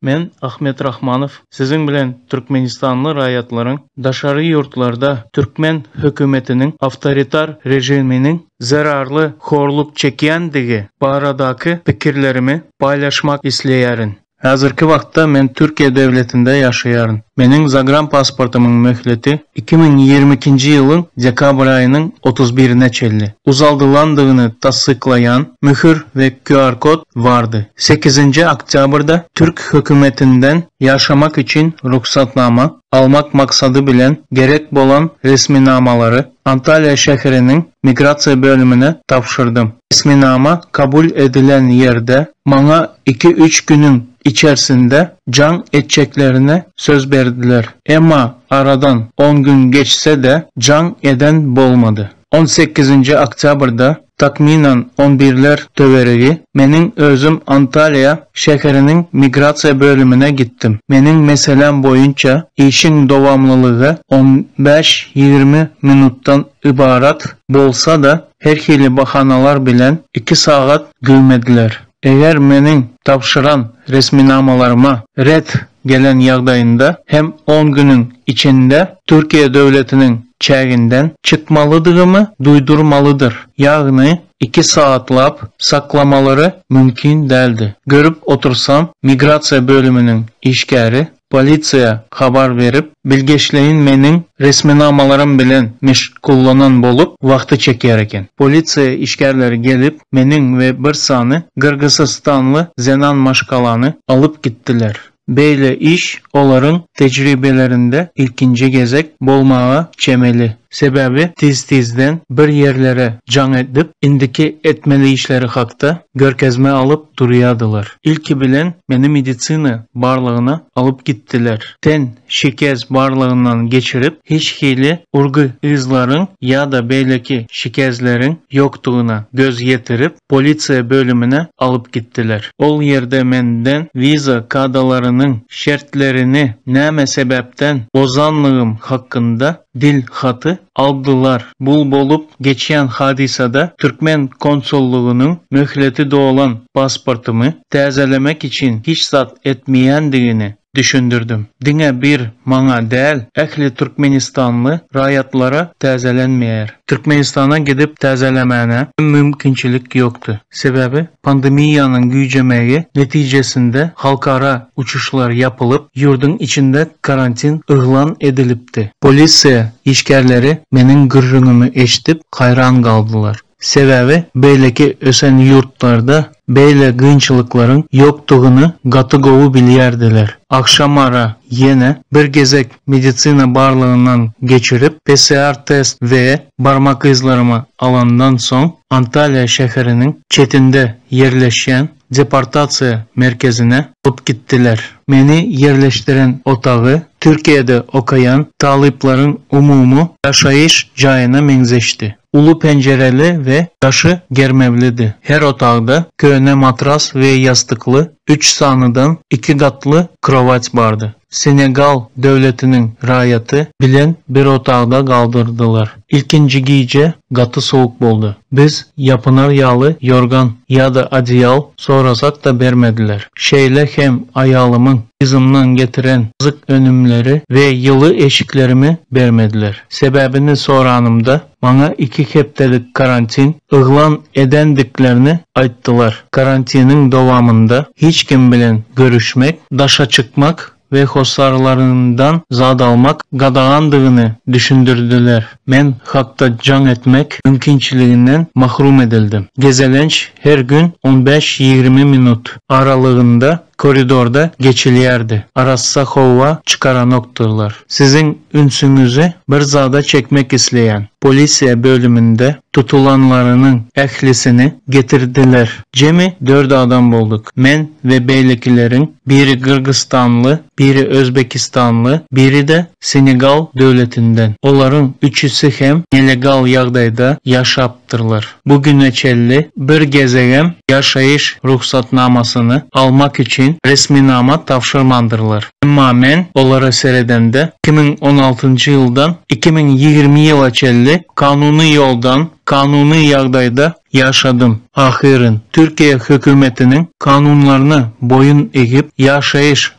Men, Ahmet Rahmanow, siziň bilen türkmenistanly raýatlaryň daşary ýurtlarda türkmen hökümetiniň awtoritar režiminiň zerarly horluk çekýändigi baradaky pikirlerimi paýlaşmak isleýärin. Häzirki wagtda men Türkiýe döwletinde ýaşaýaryn. Meniň zagranpasportymyň möhleti iki müň ýigrimi ikinji ýylyň dekabr aýynyň otuz birine çenli uzaldylandygyny tassyklaýan möhür we QR-kod bardy. Sekizinji oktýabrda türk hökümetinden ýaşamak üçin rugsatnama almak maksady bilen gerek bolan resminamalary Antalýa şäheriniň migrasiýa bölümine tabşyrdym. Resminama kabul edilen ýerde maňa iki-üç günüň içersinde jaň etjeklerine söz berdiler. Emma aradan on gün geçse-de jaň eden bolmady. On sekizinji oktýabrda, takmynan on birler töweregi, meniň özüm Antalýa şäheriniň migrasiýa bölümine gitdim. Meniň meseläm boýunça işiň dowamlylygy on bäş-ýigrimi minutdan ybarat bolsa-da, Her hili bahanalar bilen iki sagat güwmediler. Eger meniň tabşyran resminamalaryma ret gelen ýagdaýynda hem on günüň içinde Türkiýe döwletiniň çäginden çykmalydygymy duýdurmalydyr, ýagny iki sagatlap saklamalary mümkin däldi. Görüp otursam, migrasiýa bölüminiň işgäri Polisiýa habar berip, bilgeşleýin meniň resminamalarym bilen meşgullanan bolup, wagty çekýär eken. Polisiýa işgärleri gelip, meniň we bir sany gyrgyzystanly zenan maşgalany alyp gitdiler. Beýle iş olaryň tejribelerinde ilkinji gezek bolmaga çemeli. Sebäbi tiz-tizden bir ýerlere jaň edip, indiki etmeli işleri hakda görkezme alyp durýardylar. Ilki bilen meni medisina barlagyna alyp gitdiler. Ten şikes barlagyndan geçirip, hiç hili urgy yzlaryň ýa-da beýleki şikesleriň ýokdugyna göz ýetirip, polisiýa bölümine alyp gitdiler. Ol ýerde menden wiza kadalarynyň şertlerini näme sebäpden bozanlygym hakynda Dilhaty aldylar. Bu bolup geçýän hadysada türkmen konsullygynyň möhleti dolan pasportymy täzelemek üçin hiç zat etmeýändigini düşündirdim. Diňe bir maňa däl, ähli türkmenistanly raýatlara täzelenmeýär. Türkmenistana gidip täzelemäne mümkinçilik ýokdy. Sebäbi Pandemiýanyň güýjemegi netijesinde halkara uçuşlar ýapylyp, ýurduň içinde karantin yglan edilipdi. Polisiýa işgärleri meniň gürrüňimi eşidip haýran galdylar. Sebäbi beýleki ösen ýurtlarda beýle gynçylyklaryň ýokdugyny gaty gowy bilýärdiler. Agşamara ýene bir gezek medisina barlagyndan geçirip, PCR-test we barmak yzlarymy alandan soň, Antalýa şäheriniň çetinde ýerleşýän deportasiýa merkezine alyp gitdiler. Meni ýerleşdiren otagy Türkiýede okaýan talyplaryň umumy ýaşaýyş jaýyna meňzeşdi. Uly penjireli we daşy germewlidi. Her otagda köne matras we ýassykly üç sanydan iki gatly krowat bardy. Senegal döwletiniň raýaty bilen bir otagda galdyrdylar. Ilkinji gije gaty sowuk boldy. Biz ýapynar ýaly ýorgan ýa-da odeýal sorasak-da bermediler. Şeýle hem aýalymyň yzymdan getiren azyk önümleri we ýyly eşiklerimi bermediler. Sebäbini soranymda, maňa iki hepdelik karantin yglan edendiklerini aýtdylar. Karantiniň dowamynda hiç kim bilen görüşmek, daşa çykmak we hossarlaryndan zat almak gadagandygyny düşündirdiler. Men hakda jaň etmek mümkinçiliginden mahrum edildim. Gezelenç her gün on bäş-ýigrimi minut aralygynda Koridorda geçilýärdi. Arassa howa çykaranokdyrlar. Siziň ünsüňizi bir zada çekmek isleýän. Polisiýa bölüminde tutulanlarynyň ählisini getirdiler. Jemi dört adam bolduk. Men we beýlekileriň biri gyrgyzstanly, biri özbekistanly, biri-de Senegal döwletinden. Olaryň üçüsi hem nelegal ýagdaýda ýaşap. gatnaşypdyrlar. Bu güne çenli bir gezegem ýaşaýyş rugsatnamasyny almak üçin resminama tabşyrmandyrlar. Emma men olara seredemde, iki müň on altynjy ýyldan iki müň ýigrimi ýyla çenli kanuny ýoldan, kanuny ýagdaýda ýaşadym. Ahyryn, Türkiýe hökümetiniň kanunlaryna boýun egip, ýaşaýyş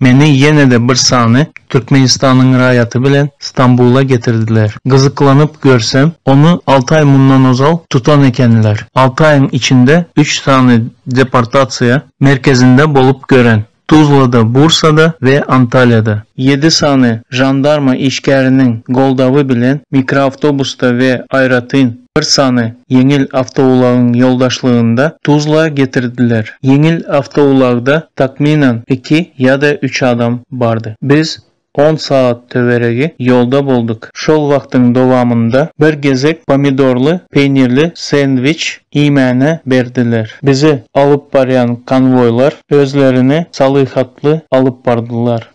Meni ýene-de bir sany Türkmenistanyň raýaty bilen Stambula getirdiler. Gyzyklanyp görsem, ony alty aý mundan ozal tutan ekenler. Alty aýyň içinde üç sany deportasiýa merkezinde bolup gören, Tuzlada, Bursada we Antalýada. Ýedi sany žandarma işgäriniň goldawy bilen mikroawtobusda we aýratyn bir sany ýeňil awtoulagyň ýoldaşlygynda Tuzla getirdiler. Ýeňil awtoulagda takmynan iki ýa-da üç adam bardy. Biz on sagat töweregi ýolda boldyk. Şol wagtyň dowamynda bir gezek pomidorly peýnirli sendwiç iýmäne berdiler. Bizi alyp barýan konwoýlar özlerini salyhatly alyp bardylar.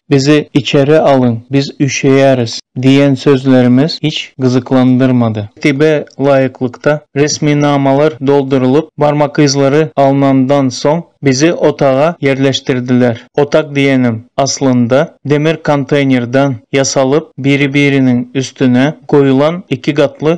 Bizi içeri alyň, biz üşeýäris diýen sözlerimiz hiç gyzyklandyrmady. Tertibe laýyklykda resminamalar doldurylyp, barmak yzlary alnandan soň, bizi otaga ýerleşdirdiler. Otag diýenim, aslynda, demir konteýnerden ýasalyp, biri-biriniň üstüne goýulan iki gatly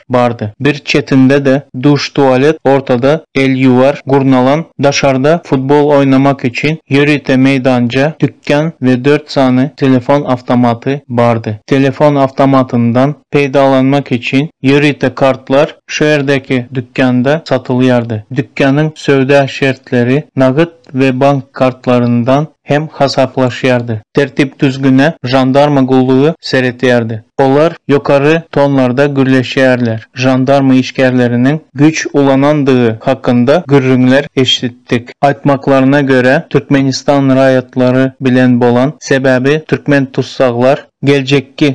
bardy. Bir çetinde-de duş-tualet, ortada el ýuwar gurnalan, daşarda futbol oýnamak üçin ýörite meýdanja, dükän we dört sany telefon awtomaty bardy. Telefon awtomatyndan peýdalanmak üçin ýörite kartlar şu ýerdäki dükända satylýardy. Dükanyň söwda şertleri nagyt we bank kartlaryndan hem hasaplaşýardy. Tertip-düzgüne žandarma gullugy seretýärdi. Olar ýokary tonlarda gürleşýärler. Žandarma işgärleriniň güýç ulanandygy hakynda gürrüňler eşitdik. Aýtmaklaryna görä, Türkmenistan raýatlary bilen bolan, sebäbi türkmen tussaglar, geljekki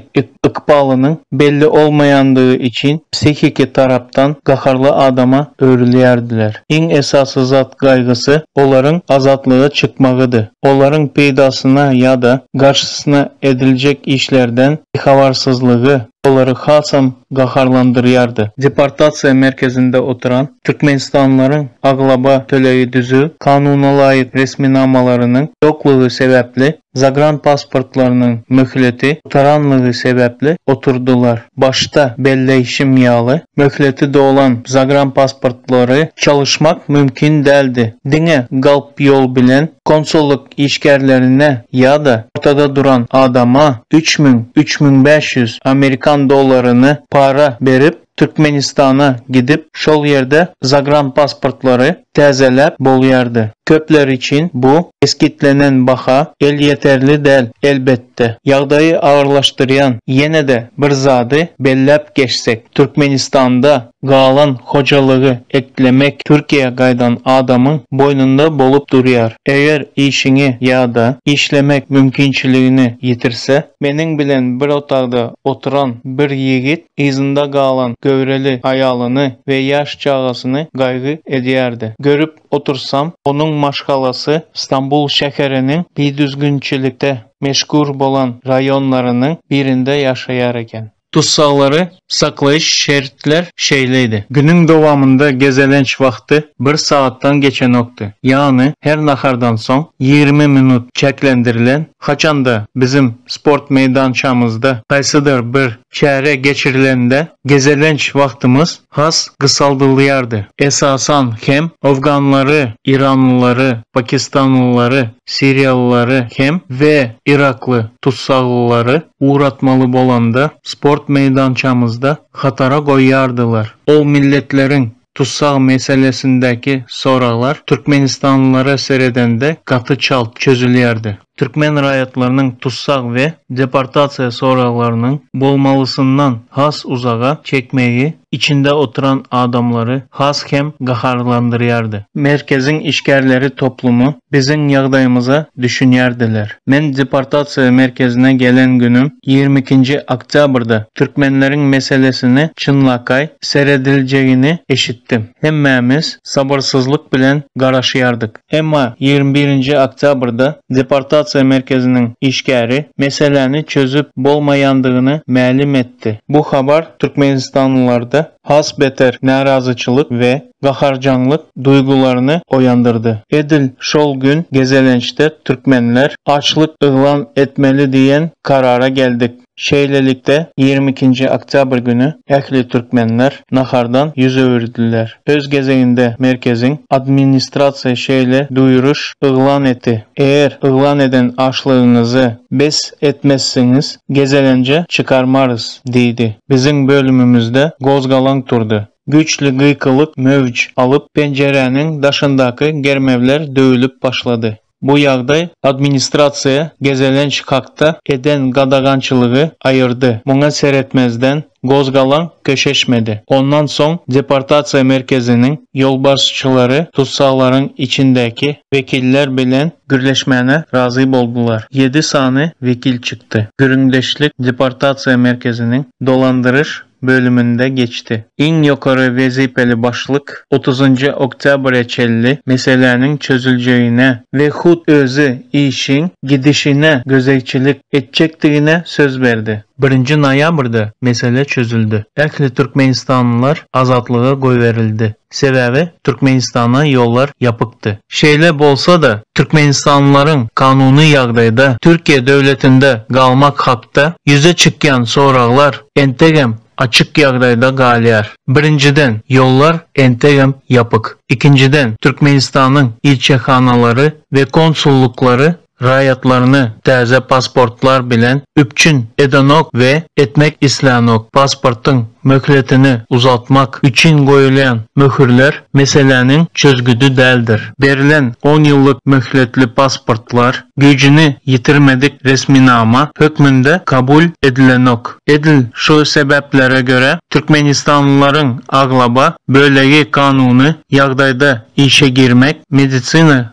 ykbalynyň belli bolmaýandygy üçin psihiki tarapdan gaharly adama öwrülýärdiler. Iň esasy zat gaýgysy olaryň azatlyga çykmagydy. Olaryň peýdasyna ýa-da garşysyna ediljek işlerden bihabarsyzlygy olary hasam gaharlandyrýardy. Deportasiýa merkezinde oturan türkmenistanlylaryň aglaba tölegi düzüw kanunalaýyk resminamalarynyň ýoklugy sebäpli Zagranpasportlarynyň möhleti gutaranlygy sebäpli oturdylar. Başda belleýşim ýaly, möhleti dolan zagranpasportlary çalyşmak mümkin däldi. Diňe galp ýol bilen konsullyk işgärlerine ýa-da ortada duran adama üç müň, üç müň bäş ýüz amerikan dollaryny para berip, Türkmenistana gidip, şol ýerde zagranpasportlary täzeläp bolýardy. Köpler üçin bu kesgitlenen baha elýeterli däl, elbetde. Ýagdaýy agyrlaşdyrýan ýene-de bir zady belläp geçsek, Türkmenistanda galan hojalygy eklemek Türkiýä gaýdan adamyň boýnunda bolup durýar. Eger işiňi ýa-da işlemek mümkinçiligini ýitirse, meniň bilen bir otagda oturan bir ýigit, Yzynda galan göwreli aýalyny we ýaş çagasyny gaýgy edýärdi. Görüp otursam, onuň maşgalasy Stambul şäheriniň bidüzgünçilikde meşhur bolan raýonlarynyň birinde ýaşaýar eken. Tussaglary saklaýyş şertler şeýledi. Günüň dowamynda gezelenç wagty bir sagatdan geçenokdy. Ýagny her nahardan soň ýigrimi minut çäklendirilen, haçanda biziň sport meýdançamyzda haýsydyr bir Çäre geçirilende gezelenç wagtymyz has gysaldylýardy. Esasan hem owganlary, iranlylary, pakistanlylary, siriýalylary hem we irakly tussaglylary ugratmaly bolanda sport meýdançamyzda hatara goýýardylar. Ol milletleriň Tussag meselesindäki soraglar türkmenistanlylara seredende gaty çalt çözülýärdi. Türkmen raýatlarynyň tussag we deportasiýa soraglarynyň bolmalysyndan has uzaga çekmegi içinde oturan adamlary has hem gaharlandyrýardy. Merkeziň işgärleri toplumy Biziň ýagdaýymyza düşünýärdiler. Men deportasiýa merkezine gelen günüm, ýigrimi ikinji oktýabrda, türkmenleriň meselesini çynlakaý serediljegini eşitdim. Hemmämiz sabyrsyzlyk bilen garaşýardyk. Emma ýigrimi birinji oktýabrda deportasiýa merkeziniň işgäri meseläni çözüp bolmaýandygyny mälim etdi. Bu habar türkmenistanlylarda has beter närazyçylyk we gaharjaňlyk duýgularyny oýandyrdy. Edil şol gün gezelençde türkmenler açlyk yglan etmeli diýen karara geldik. Şeýlelikde, ýigrimi ikinji oktýabr güni ähli türkmenler nahardan ýüz öwürdiler. Öz gezeginde merkeziň administrasiýasy şeýle duýuryş yglan etdi, Eger yglan eden açlygyňyzy bes etmezsiňiz, gezelenje çykarmarys diýdi. Biziň bölümimizde gozgalaň turdy. Güýçli gykylyk möwç alyp, penjiräniň daşyndaky germewler döwülip başlady. Bu ýagdaý administrasiýa gezelenç hakda eden gadagançylygy aýyrdy. Muňa seretmezden, gozgalaň köşeşmedi. Ondan soň deportasiýa merkeziniň ýolbaşçylary tussaglaryň içindäki wekiller bilen gürleşmäne razy boldular. Ýedi sany wekil çykdy. Gürrüňdeşlik deportasiýa merkeziniň dolandyryş bölüminde geçdi. Iň ýokary wezipeli başlyk otuzynjy oktýabra çenli meseläniň çözüljegine we hut özi işiň gidişine gözegçilik etjekdigine söz berdi. Birinji noýabrda mesele çözüldi. Ähli türkmenistanlylar azatlyga goýberildi. Sebäbi Türkmenistana ýollar ýapykdy. Şeýle bolsa-da, türkmenistanlylaryň kanuny ýagdaýda Türkiýe döwletinde galmak hakda ýüze çykýan soraglar entegem açyk ýagdaýda galýar. Birinjiden, ýollar entegem ýapyk. Ikinjiden, Türkmenistanyň ilçihanalary we konsullyklary raýatlaryny täze pasportlar bilen üpjün edenok we etmek islänok. Pasportyň möhletini uzaltmak üçin goýulýan möhürler meseläniň çözgüdi däldir. Berlen on ýyllyk möhletli pasportlar güýjüni ýitirmedik resminama hökmünde kabul edilenok. Edil şu sebäplere görä, türkmenistanlylaryň aglaba bölegi kanuny ýagdaýda işe girmek, medisina